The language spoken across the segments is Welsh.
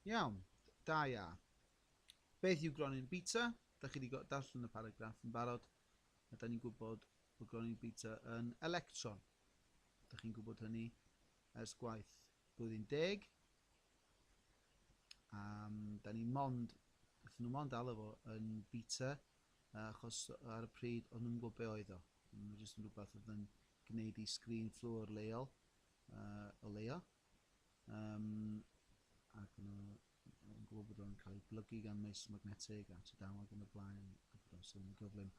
Iawn, da ia. Beth yw gronyn bita? Da chi wedi darllen y paragraff yn barod, a da ni'n gwybod bod gronyn bita yn electron. Da chi'n gwybod hynny ers gwaith blwyddyn deg. Um, da ni mond, wrth nhw mond alw fo yn bita, achos ar y pryd o'n nhw'n gwybod be oedd o. Mae'n jyst yn rhywbeth oedd yn gwneud i sgrin fflwr leol, uh, o leia, Yym, ac yna, yn gwybod bod o'n cael ei blygu gan meistr magnetig a tudau ac yn y blaen, a bod o'n sylw'n gyflym,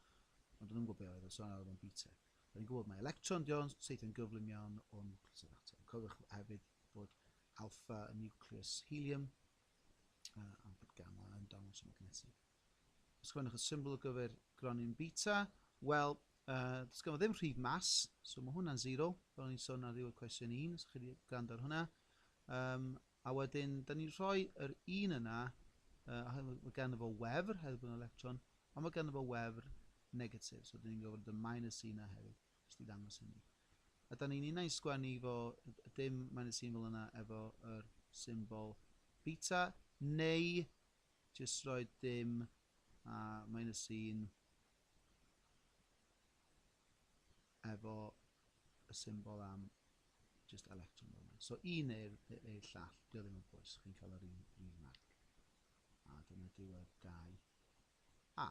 ond o'n i'n gwybod beth oedd y sôn ar o'n BTEC. O'n i'n gwybod mae electron di o'n teithio'n gyflym iawn o'n nucleus yr atom. Cofiwch hefyd bod alfa yn nucleus helium, a bod gamma yn dangos y magnetig. Ysgrifennwch y symbol ar gyfer gronyn beta. Wel, uh, does ganddo ddim rhif mas, so mae hwnna'n 0, fel o'n i'n sôn ar ddiwedd cwestiwn 1, os chi wedi gwrando ar hwnna. Um, a wedyn, da ni'n rhoi yr un yna, uh, mae ganddo fo wefr, hefyd bod yn electron, ond mae ganddo fo wefr negatif, so da ni'n gofod y minus 1 yna hefyd, jyst i ddangos hynny. A da ni'n unau'n sgwennu fo, dim minus 1 fel yna, efo yr symbol beta, neu Jyst rhoi dim a minus un efo y symbol am jyst electron fel yna. So un neu'r neu llall, dio ddim yn bwys, chi'n cael yr un, un marc. A dyna diwedd 2 A.